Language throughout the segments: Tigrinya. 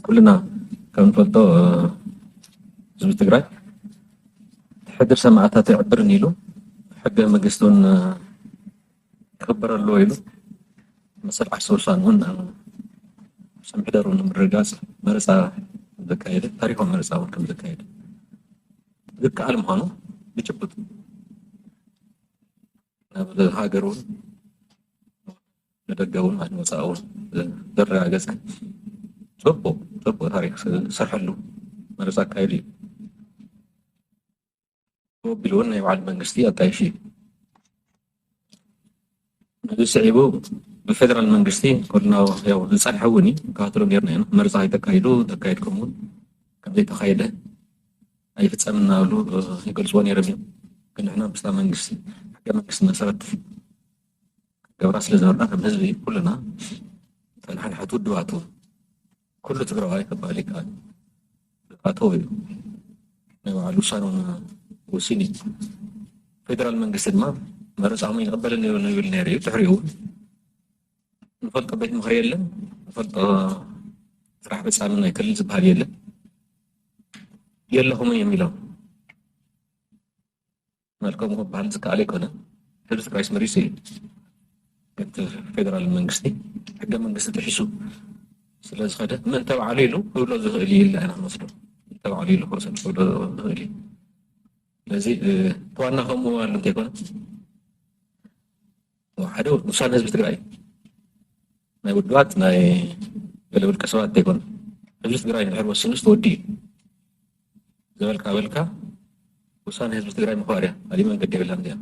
ኩልና ከምንፈልጦ ህዝቢ ትግራይ ሕድሪ ሰማእታት ኣይዕብርን ኢሉ ሕገ መንግስቲ እውን ክኽበር ኣለዎ ኢሉ መሰል ዓርሰ ውሳነ እውን ርእሰ ምሕደሩ ንምርግጋፅ መረፃ ዘካየደ ታሪካዊ መረፃ እውን ከም ዘካየደ ዝከኣል ምዃኑ ብጭቡጥ ናብ ሃገር እውን ንደገ ውን ኣብ ወፃኢ ውን ዘረጋገፀ ፅቡቅ ፅቡቅ ታሪክ ዝሰርሐሉ መረፃ ኣካይዱ እዩ። ብኡ ኣቢሉ ውን ናይ ባዕሉ መንግስቲ ኣጣይሹ እዩ። ነዚ ስዒቡ ብፌደራል መንግስቲ ኮልና ያው ዝፀንሐ እውን እዩ ንከታተሎ ነርና ኢና መረፃ ከይተካይዱ ተካይድኩም እውን ከምዘይተካየደ ኣይፍፀምን እናበሉ ይገልፅዎ ነይሮም እዮም። ግን ንሕና ምስታ መንግስቲ ሕገ መንግስቲ መሰረት ክገብራ ስለ ዝነበራ ከም ህዝቢ ኩልና እተን ሓድሓድ ውድባቱ ኩሉ ትግራዋይ ክበሃል ይከኣል ኣተው እዩ ናይ በዓሉ ውሳነውን ወሲኑ እዩ ፌደራል መንግስቲ ድማ መረፃኹም ይቕበልን ይብል ይብል ነይሩ እዩ ድሕሪኡ እውን ንፈልጦ ቤት ምኽሪ የለን ንፈልጦ ስራሕ ፈፃሚ ናይ ክልል ዝበሃል የለን የለኹምን እዮም ኢሎም መልከሙ ክበሃል ዝከኣል ኣይኮነን። ሕዚ ጥራይ መሪጹ እዩ። እቲ ፌደራል መንግስቲ ሕገ መንግስቲ ጥሒሱ ስለ ዝኸደ መን ተባዕሉ ኢሉ ክብሎ ዝኽእል እዩ ኢልና ኢና ክንወስዶ ተባዕሉ ኢሉ ክወሰድ ክብሎ ዝኽእል እዩ። ስለዚ እቲ ዋና ከምኡ ምባሉ እንተይኮነ ሓደ ውሳነ ህዝቢ ትግራይ ናይ ውድባት ናይ ገለ ውልቀ ሰባት ዘይኮነ ህዝቢ ትግራይ ንድሕር ወሲኑ ዝተወዲ እዩ ዝበልካ በልካ ውሳነ ህዝቢ ትግራይ ምኽባር እያ ካሊእ መንገዲ የብላን እዚኣ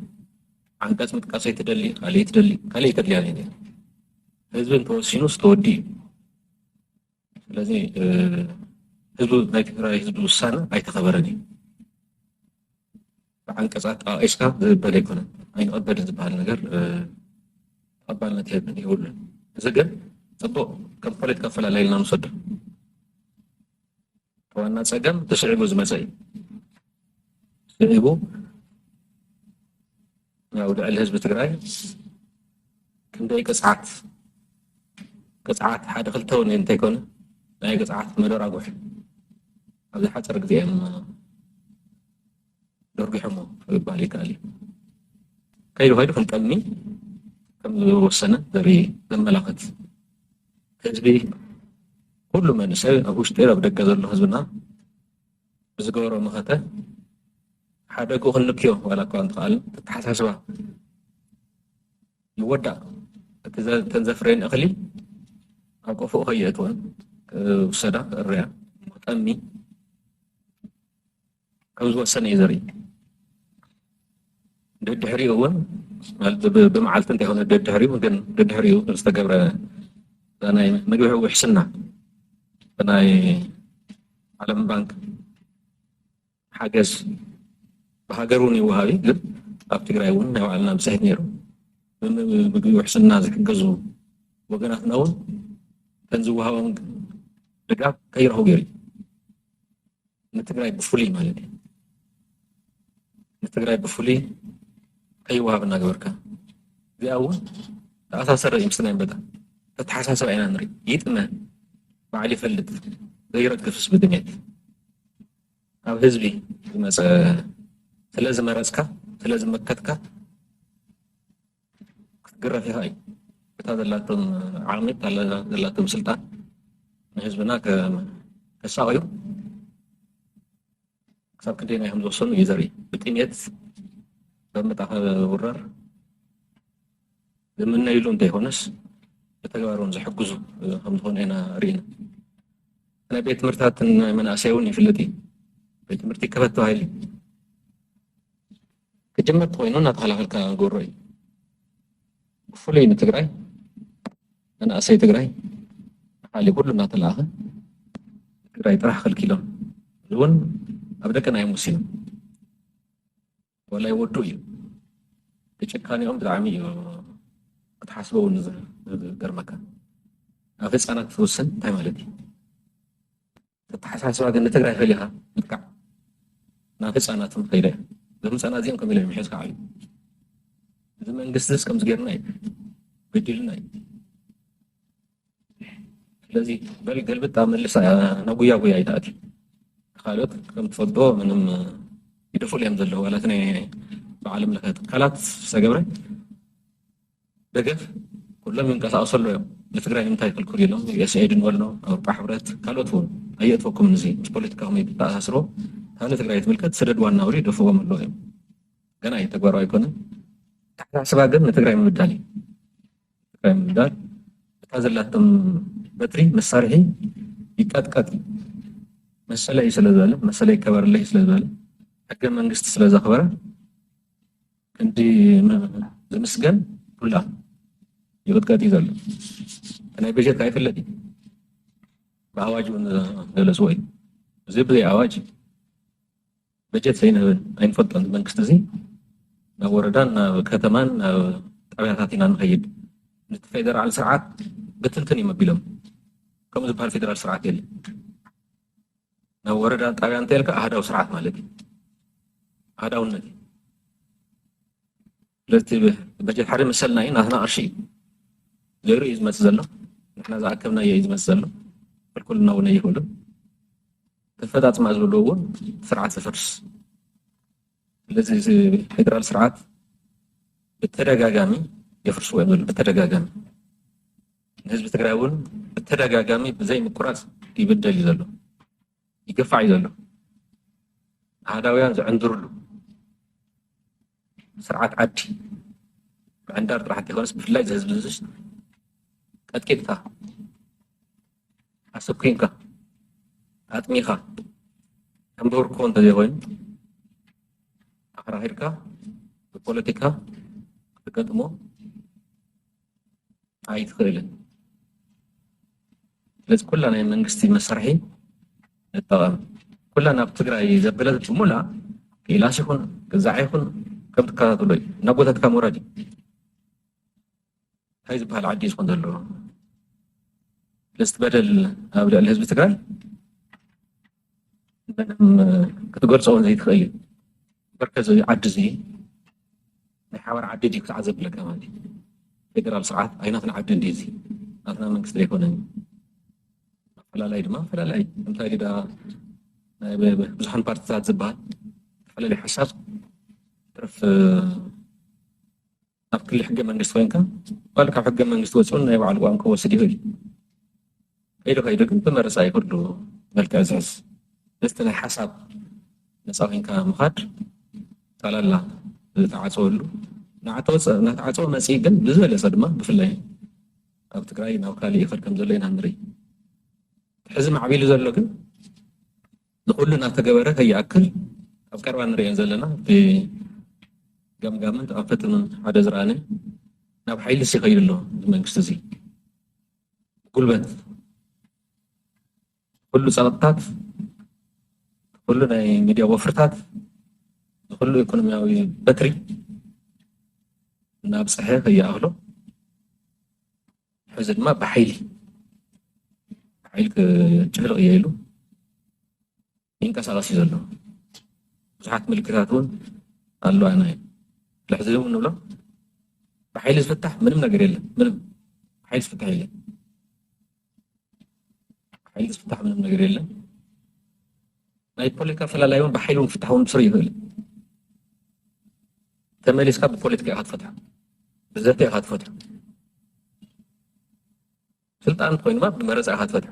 ዓንቀፅ ምጥቃሰይ ትደሊ ካሊእ ትደሊ ካሊእ ተድልያ ህዝቢ እንተወሲኑ ዝተወዲ እዩ ስለዚ ህዝቢ ናይ ትግራይ ህዝቢ ውሳነ ኣይተኸበረን እዩ ብዓንቀፅ ኣጠቃቂስካ ዝበል ኣይኮነን ኣይንቐበልን ዝበሃል ነገር ተቐባልነት የብን የብሉን እዚ ግን ፅቡቅ ከም ፖለቲካ ኣፈላለይ ኢልና ንወሰዶ ዋና ፀገም ተስዒቡ ዝመፀ እዩ ስዒቡ ያው ልዕሊ ህዝቢ ትግራይ ክንደይ ቅፅዓት ቅፅዓት ሓደ ክልተ እውን እንተይኮነ ናይ ቅፅዓት መደራጉሕ ኣብዚ ሓፀር ግዜ እዮም ደርጒሖሞ ይባል ይከኣል እዩ ከይዱ ከይዱ ክንጠልኒ ከም ዝወሰነ ዘርኢ ዘመላኽት ህዝቢ ኩሉ መንእሰይ ኣብ ውሽጢ ኣብ ደገ ዘሎ ህዝብና ብዝገበሮ መኸተ ሓደግኡ ክንልክዮ ዋላ እኳ እንተኸኣልን ተተሓሳስባ ይወዳእ እቲ እተን ዘፍረየን እኽሊ ኣብ ቆፎኡ ከየእትወን ክውሰዳ ክእረያ ጠሚ ከም ዝወሰነ እዩ ዘርኢ ደድሕሪኡ እውን ብመዓልቲ እንተይኮነ ደድሕሪኡ ግን ደድሕሪኡ ዝተገብረ ናይ ምግቢ ውሕስና ናይ ዓለም ባንክ ሓገዝ ብሃገር እውን ይወሃብ እዩ ግን ኣብ ትግራይ እውን ናይ ባዕልና ብፅሒት ነይሩ ምግቢ ውሕስና ዝሕገዙ ወገናትና እውን ከም ዝወሃቦም ድጋፍ ከይረኽቡ ገይሩ እዩ ንትግራይ ብፍሉይ ማለት እዩ ንትግራይ ብፍሉይ ከይወሃብ እናገበርካ እዚኣ እውን ተኣሳሰረ እዩ ምስናይ በጣ ተተሓሳሰብ ኢና ንርኢ ይጥመ በዓል ይፈልጥ ዘይረግፍስ ብድሜት ኣብ ህዝቢ ዝመፀ ስለ ዝመረፅካ ስለ ዝመከትካ ክትግረፍ ኢኻ እዩ እታ ዘላቶም ዓቕሚ እታ ዘላቶም ስልጣን ንህዝብና ከሳቕዩ ክሳብ ክንደየናይ ከም ዝወሰኑ እዩ ዘርኢ ብጥሜት በምጣ ውራር ዝምነይሉ እንተይኮነስ ብተግባር እውን ዝሕግዙ ከም ዝኾነ ኢና ርኢና ናይ ቤት ትምህርትታትን ናይ መናእሰይ እውን ይፍለጥ እዩ ቤት ትምህርቲ ክፈት ተባሂሉ ክጅምር ተኾይኑ እናተኸላኸልካ ግብሮ እዩ። ብፍሉይ ንትግራይ መናእሰይ ትግራይ ንካሊ ኩሉ እናተለኣኸ ትግራይ ጥራሕ ከልኪሎም እውን ኣብ ደቅና እዮም ወሲኖም ወላይ ወዱ እዩ ብጭካኔኦም ብጣዕሚ እዩ ክትሓስቦ እውን ዝገርመካ ኣብ ህፃናት ትውስን እንታይ ማለት እዩ ኣተሓሳስባ ግን ንትግራይ ፈሊኻ ምጥቃዕ ናብ ህፃናት እውን ከይደ እዞም ህፃናት እዚኦም ከም ኢሎም ምሕዝ ከዓዩ እዚ መንግስቲ ስ ከምዚ ገይርና እዩ በዲልና እዩ ስለዚ በል ገልብጣ መልሳ ናጉያ ጉያ ይትኣት ካልኦት ከም ትፈልጦ ምንም ይደፍሉ እዮም ዘለዉ ዋላት ናይ ብዓለም ለኸ ትካላት ዝተገብረ ደገፍ ኩሎም ይንቀሳቀሱ ኣለዉ እዮም ንትግራይ ንምንታይ ክልኩል ኢሎም ዩኤስኤድን ወሎ ኣውሮጳ ሕብረት ካልኦት እውን ኣየእትወኩምን እዚ ምስ ፖለቲካኹም እይተተኣሳስሮ ካብ ንትግራይ ትምልከት ስደድ ዋና ውሪ ደፍዎም ኣለዉ እዮም ገና እዩ ተግባራዊ ኣይኮነን ኣተሓሳስባ ግን ንትግራይ ምብዳል እዩ ትግራይ ምብዳል እታ ዘላቶም በትሪ መሳርሒ ይቀጥቀጥ እዩ መሰለይ ስለ ዝበለ መሰለይ ይከበርለይ ስለ ዝበለ ሕገ መንግስቲ ስለ ዘኽበረ ክንዲ ዝምስገን ኩላ ይቕጥቀጥ እዩ ዘሎ ናይ በጀት ኣይፍለጥ እዩ ብኣዋጅ እውን ገለፅዎ እዩ እዚ ብዘይ ኣዋጅ በጀት ዘይንህብን ኣይንፈልጦን መንግስቲ እዚ ናብ ወረዳን ናብ ከተማን ናብ ጣብያታት ኢና ንኸይድ ነቲ ፌደራል ስርዓት ብትንትን እዮም ኣቢሎም ከምኡ ዝበሃል ፌደራል ስርዓት የለን ናብ ወረዳን ጣብያን እንተልካ ኣህዳዊ ስርዓት ማለት እዩ ኣህዳውነት እዩ ስለቲ በጀት ሓደ መሰልና እዩ ናትና ቅርሺ እዩ ገይሩ እዩ ዝመፅእ ዘሎ ንሕና ዝኣከብናዮ እዩ ዝመፅእ ዘሎ ክልኩልና እውን ኣይኽእሉ ተፈፃፅማ ዝብሉ እውን ስርዓት ዘፈርስ ስለዚ እዚ ፌደራል ስርዓት ብተደጋጋሚ የፍርስዎ እዮም ዘሎ ብተደጋጋሚ ህዝቢ ትግራይ እውን ብተደጋጋሚ ብዘይ ምቁራፅ ይብደል እዩ ዘሎ ይግፋዕ እዩ ዘሎ ኣህዳውያን ዝዕንድርሉ ስርዓት ዓዲ ምዕንዳር ጥራሕ እንተይኮነስ ብፍላይ እዚ ህዝቢ ዝሽ ቀጥቂጥካ ኣሰኩንካ ኣጥሚኻ ከም ብህርኮ እንተዘይኮይኑ ኣክራኺርካ ብፖለቲካ ክትገጥሞ ኣይትኽእልን ስለዚ ኩላ ናይ መንግስቲ መሳርሒ ንጠቐም ኩላ ናብ ትግራይ ዘበለት ሙላ ቂላስ ይኹን ግዛዕ ይኹን ከም ትከታተሎ እዩ ናብ ጎታትካ ምውራድ እዩ እንታይ ዝበሃል ዓዲ እዩ ዝኾን ዘለዎ ስለዚ በደል ኣብ ልዕሊ ህዝቢ ትግራይ ክትገልፆ እውን ዘይትኽእል እዩ መርከዝ ዓዲ እዚ ናይ ሓባር ዓዲ ድዩ ክሳዕ ዘብለካ ማለት እዩ ፌደራል ስርዓት ኣይናትና ዓዲ እንዲ እዚ ናትና መንግስቲ ዘይኮነን ኣፈላላይ ድማ ኣፈላላይ እንታይ ግዳ ናይ ብዙሓን ፓርቲታት ዝበሃል ተፈላለየ ሓሳብ ትርፍ ኣብ ክሊ ሕገ መንግስቲ ኮይንካ ባል ካብ ሕገ መንግስቲ ወፅኡን ናይ ባዕሉ ቋንቋ ክወስድ ይኽእል እዩ ከይዱ ከይዱ ግን ብመረፃ እዩ ኩሉ መልክዕ ዝሕዝ ምስቲ ናይ ሓሳብ ነፃ ኮይንካ ምኻድ ጠላላ ዝተዓፀወሉ ናተዓፀወ መፅኢ ግን ብዝበለፀ ድማ ብፍላይ ኣብ ትግራይ ናብ ካልእ ይኸድ ከም ዘሎ ኢና ንርኢ ሕዚ ማዕቢሉ ዘሎ ግን ንኹሉ እናተገበረ ከይኣክል ኣብ ቀረባ ንርእየን ዘለና እቲ ገምጋምን ተኣፈትምን ሓደ ዝረኣነ ናብ ሓይልስ ይኸይድ ኣሎ እዚ መንግስቲ እዚ ጉልበት ኩሉ ጸቕጥታት ኩሉ ናይ ሚድያ ወፍርታት ንኩሉ ኢኮኖሚያዊ በትሪ እናብፀሐ ከይኣኽሎ ሕዚ ድማ ብሓይሊ ሓይል ክጭፍልቕ እየ ኢሉ ይንቀሳቐስ እዩ ዘሎ ብዙሓት ምልክታት እውን ኣለዋና እዩ ልሕዚ እውን ንብሎ ብሓይሊ ዝፍታሕ ምንም ነገር የለን ምንም ሓይል ዝፍታሕ የለን ሓይል ዝፍታሕ ምንም ነገር የለን ናይ ፖለቲካ ፈላላይ እውን ብሓይሊ እውን ክፍታሕ እውን ስር ይኽእል ተመሊስካ ብፖለቲካ ኢካ ትፈትሖ ብዘተ ኢካ ትፈትሖ ስልጣን ኮይኑ ድማ ብመረፃ ኢካ ትፈትሖ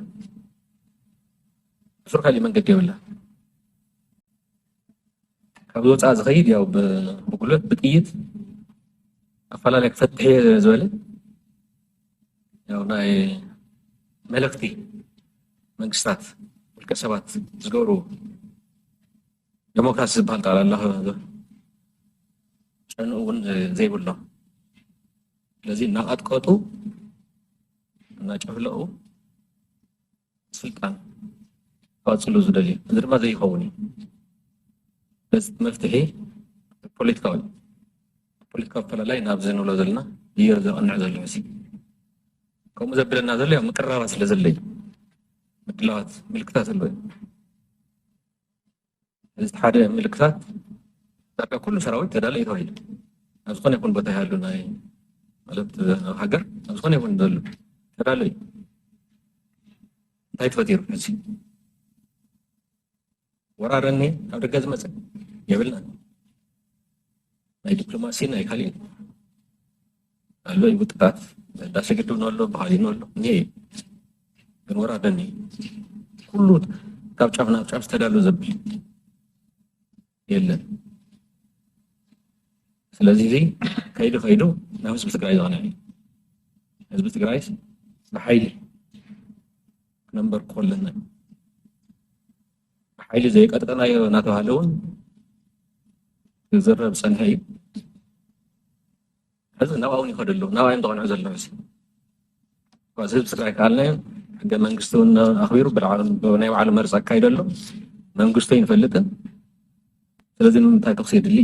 እሱር ካሊእ መንገዲ የብላ ካብ ወፃእ ዝኸይድ ያው ብጉልበት ብጥይት ኣፈላለየ ክፈትሕ እየ ዝበለ ያው ናይ መለክቲ መንግስታት ውልቀ ሰባት ዝገብሩ ደሞክራሲ ዝበሃል ቃል ኣሎ ጨንኡ እውን ዘይብሎ ስለዚ እናቐጥቀጡ እናጨፍለቑ ስልጣን ክቐፅሉ ዝደልዩ እዚ ድማ ዘይኸውን እዩ በዚ መፍትሒ ፖለቲካዊ ፖለቲካዊ ኣፈላላይ ናብዚ ንብሎ ዘለና እዮ ዘቕንዕ ዘሎ መሲ ከምኡ ዘብለና ዘሎ ምቅራባ ስለ ዘለ እዩ ምድላዋት ምልክታት ኣለዎ እዚ ሓደ ምልክታት ዳርጋ ኩሉ ሰራዊት ተዳለዩ እዩ ተባሂሉ ኣብ ዝኾነ ይኹን ቦታ ይሃሉ ናይ ማለት ኣብ ሃገር ኣብ ዝኾነ ይኹን ዘሎ ተዳሎ እዩ እንታይ ተፈጢሩ ሕዚ ወራር እኒ ኣብ ደገ ዝመፀ የብልናን ናይ ዲፕሎማሲ ናይ ካሊእ ኣሎ እዩ ምጥቃት ህዳሴ ግድብ ኣሎ በሃሊ ኣሎ እኒሀ እዩ ግን ወራደኒ ኩሉ ካብ ጫፍ ናብ ጫፍ ዝተዳሉ ዘብል የለን ስለዚ እዚ ከይዱ ከይዱ ናብ ህዝቢ ትግራይ ዝቐንዕ እዩ ህዝቢ ትግራይ ብሓይሊ ክነንበር ኮለና ብሓይሊ ዘይቀጥቀናዮ እናተባሃለ እውን ክዝረብ ፀንሐ እዩ ሕዚ ናብኣ እውን ይኸዱ ኣለዉ ናብኣ እዮም ተቐንዑ ዘለዉ ሕዚ እኳ ህዝቢ ትግራይ ካልናዮም ሕገ መንግስቲ እውን ኣኽቢሩ ናይ ባዕሉ መርፂ ኣካይዶ ኣሎ መንግስቱ ኣይንፈልጥን ስለዚ ንምንታይ ተኽሲ የድሊ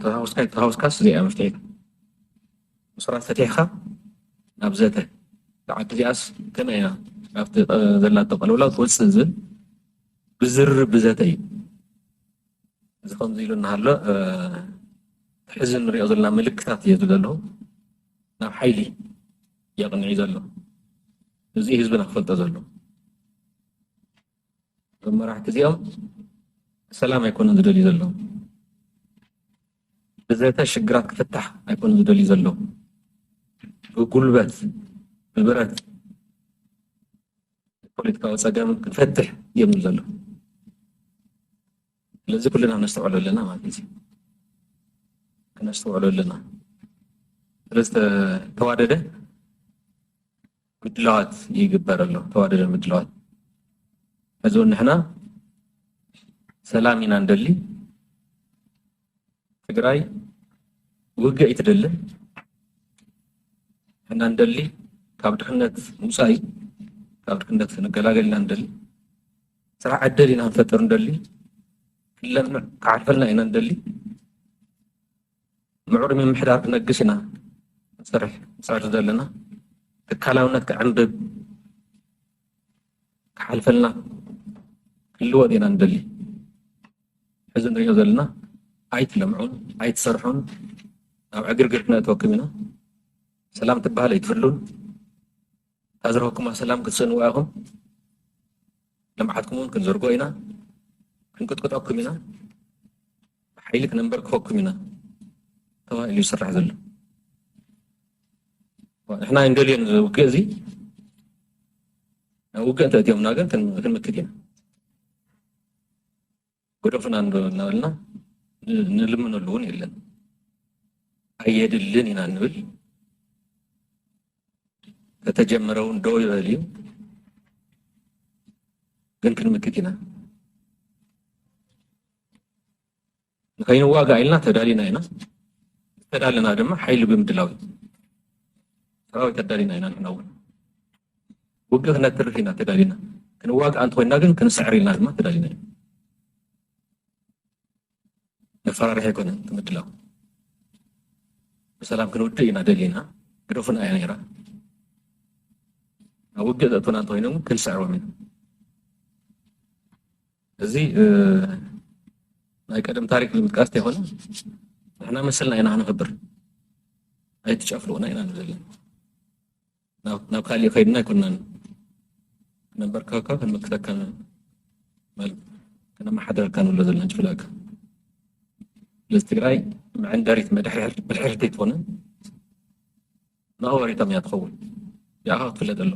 ተሃውስካ ይተሃውስካስ እዚኣ መፍትሒት ምስራት ፈቲሕካ ናብ ዘተ ሰዓት እዚኣስ ከመይ ኢና ካብቲ ዘላቶ ቀልውላው ትወፅእ ዝብል ብዝርርብ ብዘተ እዩ እዚ ከምዚ ኢሉ እናሃሎ ሕዚ እንሪኦ ዘለና ምልክታት እዩ ዘሎ ናብ ሓይሊ የቕንዕ እዩ ዘሎ እዚ ህዝብና ክፈልጦ ዘሎ እዞም መራሕቲ እዚኦም ሰላም ኣይኮኑን ዝደልዩ ዘለዉ ብዘተ ሽግራት ክፍታሕ ኣይኮኑን ዝደልዩ ዘለዉ ብጉልበት ብብረት ፖለቲካዊ ፀገም ክፈትሕ የብሉ ዘሎ ስለዚ ኩልና ክነስተውዕሎ ኣለና ማለት እዩ ክነስተውዕሎ ኣለና ስለዝተዋደደ ምድላዋት ይግበር ኣሎ ተዋደደ ምድላዋት ሕዚ እውን ንሕና ሰላም ኢና ንደሊ ትግራይ ውግእ ኣይትደልን ንሕና እንደሊ ካብ ድኽነት ምውፃእ እዩ ካብ ድኽነት ንገላገል ኢና እንደሊ ስራሕ ዕድል ኢና ንፈጥር እንደሊ ክለምዕ ክዓርፈልና ኢና እንደሊ ምዕሩይ ምምሕዳር ክነግስ ኢና ንሰርሕ ንፅዕር ዘለና ትካላውነት ክዕንብብ ክሓልፈልና ክልወጥ ኢና እንደሊ ሕዚ ንሪኦ ዘለና ኣይትለምዑን ኣይትሰርሑን ናብ ዕግርግር ክነእትወኩም ኢና ሰላም ትበሃል ኣይትህሉን እታ ዝረኸብኩማ ሰላም ክትስእንዋ ኢኹም ልምዓትኩም እውን ክንዝርጎ ኢና ክንቅጥቅጠኩም ኢና ብሓይሊ ክነንበርክኸኩም ኢና ተባሂሉ ይስራሕ ዘሎ ንሕና እንደልዮን እዚ ውግእ እዚ ውግእ እንተእትዮምና ግን ክንምክት ኢና ግደፉና እናበልና ንልምነሉ እውን የለን ኣየድልን ኢና ንብል ከተጀመረ እውን ደው ይበል እዩ ግን ክንምክት ኢና ንከይንዋጋእ ኢልና ተዳሊና ኢና ዝተዳለና ድማ ሓይሊ ብምድላው እዩ ሰራዊት ኣዳሊና ኢና ንሕና እውን ውግእ ክነትርፍ ኢና ተዳሊና ክንዋግእ እንተኮይና ግን ክንስዕር ኢልና ድማ ተዳሊና ኢና መፈራርሒ ኣይኮነን ምድላው ብሰላም ክንውድእ ኢና ደሊና ግደፉን ኣያ ነይራ ናብ ውግእ ዘእትውና እንተኮይኖም ክንስዕሮም ኢና እዚ ናይ ቀደም ታሪክ ንምጥቃስ ተይኮነ ንሕና መሰልና ኢና ክነክብር ኣይትጨፍልቁና ኢና ንብል ዘለና ናብ ካሊእ ከይድና ኣይኮናን ክነንበርከካ ክንምክተካ ማለት ክነመሓደረካ ንብሎ ዘለና ጭፍላካ ስለዚ ትግራይ መዐንደሪት መድሕርቲ ኣይትኾነን ንኣዋሪቶም እያ ትኸውን ያኻ ክትፍለጥ ኣሎ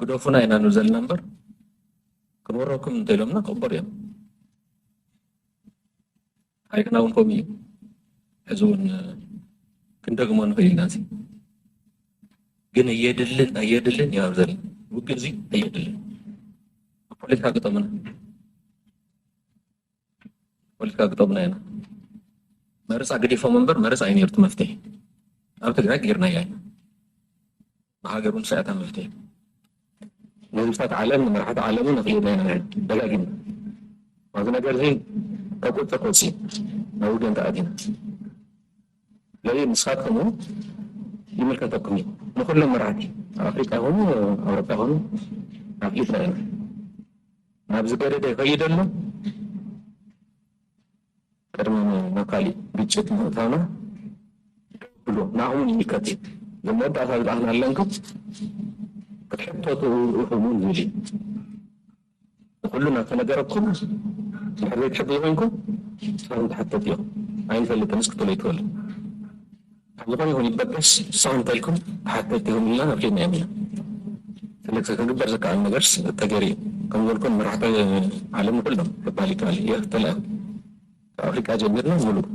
ግደፉና ኢና ን ዘለና እምበር ክንወረኩም እንተኢሎምና ክቕበሩ እዮም ሓይልና እውን ከምኡ እዩ ሕዚ እውን ክንደግሞ ንኽእል ኢና እዚ ግን እየድልን ኣየድልን እዩ ኣብ ዘለና ውግእ እዚ ኣየድልን ፖለቲካ ገጠምና ፖለቲካ ግጠሙና ኢና መረፃ ገዲፎም እምበር መረፃ እዩ ነይሩ እቲ መፍትሒ ኣብ ትግራይ ገይርናያ ኢና ብሃገር እውን ሳያታ መፍትሒ ንህዝብታት ዓለም ንመራሕቲ ዓለም እውን ኣኽሊና ኢና ደጋጊምና ኣብዚ ነገር እዚ ካብ ቁፅር ክወፅ እዩ ናብ ውገን ተኣቲና ስለዚ ንስኻትኩም እውን ይምልከተኩም እዩ ንኩሎም መራሕቲ ኣብ ኣፍሪቃ ይኹኑ ኣብ ኣውሮፓ ይኹኑ ኣፍሊጥና ኢና ናብ ዝገደደ ይኸይድ ኣሎ። ቅድሚ ናብ ካሊእ ግጭት ምእታውና ደው ብሉ፣ ንኣኹምውን ይምልከት እዩ፣ እዚ መወዳእታ ዝበኣኽና ኣለንኩም ክትሕተቱ ኢኹምውን ዝብል እዩ። ንኹሉ እናተነገረኩም እንድሕር ዘይትሕግዙ ኮይንኩም ንስኻትኩም ትሕተቱ ኢኹም። ኣይንፈልጥንስ ክትብሉ ኣይትኽእሉን። ኣብ ዝኾነ ይኹን ይበገስ ስቕ እንተልኩም ተሓተቲ ኢኹም ኢልና ኣፍሊጥናዮም ኢና። ስለዚ ክግበር ዝከኣል ነገርስ ተገይሩ እዩ። ከምዝበልኩ መራሕቲ ዓለም ንኹሎም ክበሃል ይከኣል እዩ ተላኢኹ። ካብ ኣፍሪቃ ጀሚርና ምሉእ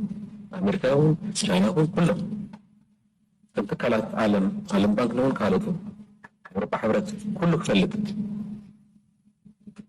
ኣሜሪካ ይኹን ቻይና ይኹን ኩሎም እቶም ትካላት ዓለም ዓለም ባንክ ንውን ካልኦት እውን ኣውሮጳ ሕብረት ኩሉ ክፈልጥ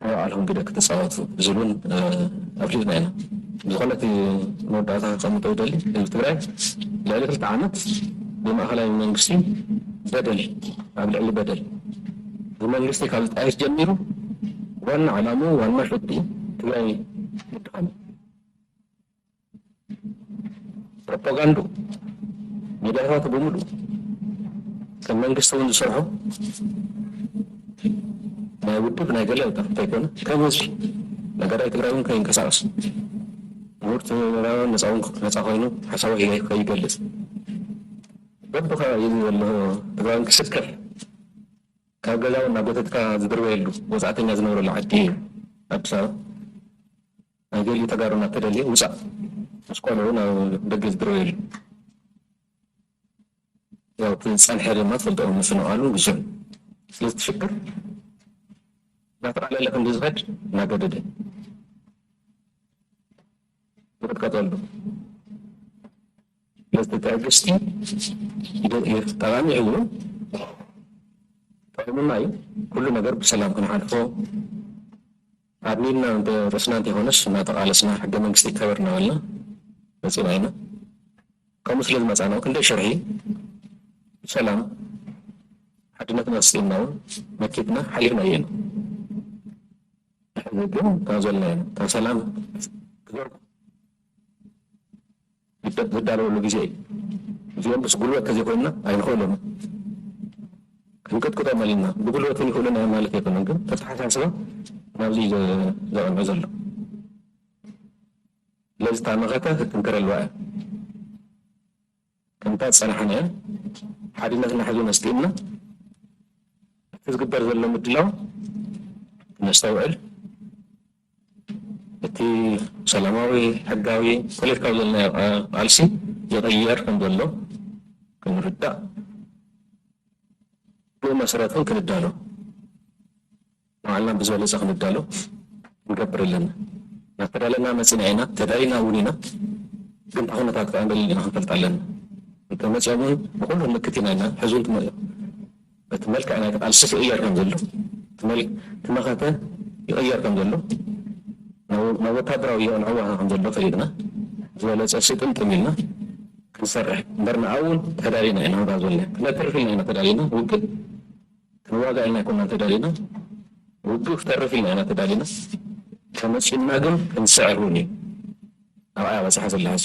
ንባዕልኹም ግደ ክትጻወቱ ዝብል ውን ኣፍሊጥና ኢና። ብዝኾነ እቲ መወዳእታ ከቐምጦ ዝደሊ ህዝቢ ትግራይ ልዕሊ ክልተ ዓመት ብማእኸላይ መንግስቲ በደል ኣብ ልዕሊ በደል ብመንግስቲ ካብ ዝጣየስ ጀሚሩ ዋና ዕላምኡ ዋና ሸትኡ ትግራይ ምድኻም እዩ። ፕሮፓጋንድኡ ሚድያታቱ ብምሉእ ከም መንግስቲ እውን ዝሰርሖ ናይ ውድብ ናይ ገለ ጥራሕ እንተይኮነ ከም ህዝቢ ነገራይ ትግራይ እውን ከይንቀሳቀስ ምሁር ትግራዋን ነፃ እውን ነፃ ኮይኑ ሓሳቡ ከይገልፅ በብከባቢኡ ዘሎ ትግራዋን ክስከፍ ካብ ገዛ እውን ናብ ቤተትካ ዝድርበየሉ ወፃእተኛ ዝነብረሉ ዓዲ እዩ ኣዲስ ኣበባ ናይ ገሊኡ ተጋሩ እናተደልየ ውፃእ ምስ ቆልዑ ናብ ደገ ዝድረበየሉ ያው እቲ ዝፀንሐ ድማ ትፈልጦ ምፍንቓሉ ብዙሕ ስለዚ እቲ ሽግር እናተቓለለ ክንዲ ዝኸድ እናገደደ ይቕጥቀጠሉ ስለዚ እቲ ትዕግስቲ ጠቓሚ እዩ ጠቒሙና እዩ ኩሉ ነገር ብሰላም ክንሓልፎ ዓብይ ኢልና እንተ ርእስና እንተይኮነስ እናተቓለስና ሕገ መንግስቲ ይከበር እናበልና መፂና ኢና። ከምኡ ስለ ዝመፃና ክንደይ ሽርሒ ሰላም ሓድነትና ስኢንና እውን መኪትና ሓሊፍናዮ ኢና። ሕዚ ግን ካብ ዘለናዮ እታ ሰላም ክዘርጉ። ዝዳለወሉ ግዜ እዩ እዚኦም ምስ ጉልበት ተዘይኮይንና ኣይንክእሎን ክንቅጥቅጦም ኣልና ብጉልበት እውን ይክእሉና እዮም ማለት ኣይኮነን ግን ተተሓሳስባ ናብዚ ዘቐንዑ ዘሎ ስለዚ እታ መኸተ ክትጥንከረልዋ እያ ከምታ ዝፀናሓና እያ ሓድነትና ሕዚ መስጢእና እቲ ዝግበር ዘሎ ምድላው ነስተውዕል እቲ ሰላማዊ ሕጋዊ ፖለቲካዊ ዘልና ቃልሲ ይቕየር ከም ዘሎ ክንርዳእ ብመሰረት እውን ክንዳሎ ባዕልና ብዝበለፀ ክንዳሎ ክንገብር ኣለና እናተዳለና መፂና ኢና ተዳሊና እውን ኢና ግን ተኹነታት ከዓ እንደለና ክንፈልጥ ኣለና እንተመፅኦም እውን ብኩሉ ንምክት ኢና ኢልና ሕዚ እውን ትመፅኦም እቲ መልክዕ ናይቲ ቃልስስ ይቕየር ከም ዘሎ፣ እቲ መኸተ ይቕየር ከም ዘሎ፣ ናብ ወታደራዊ የቕንዕዋኻ ከም ዘሎ ፈሊጥና ዝበለጸ ስጥምጥም ኢልና ክንሰርሕ እምበር ንኣውን ተዳሊና ኢና እባ ዝበልናዮ ክነትርፍ ኢልና ኢና ተዳሊና ውግእ ክንዋጋእ ኢልና ኣይኮናን ተዳሊና ውግእ ክተርፍ ኢልና ኢና ተዳሊና ተመጺኡና ግን ክንስዕር እውን እዩ ኣብኣ በጽሓ ስላሓስ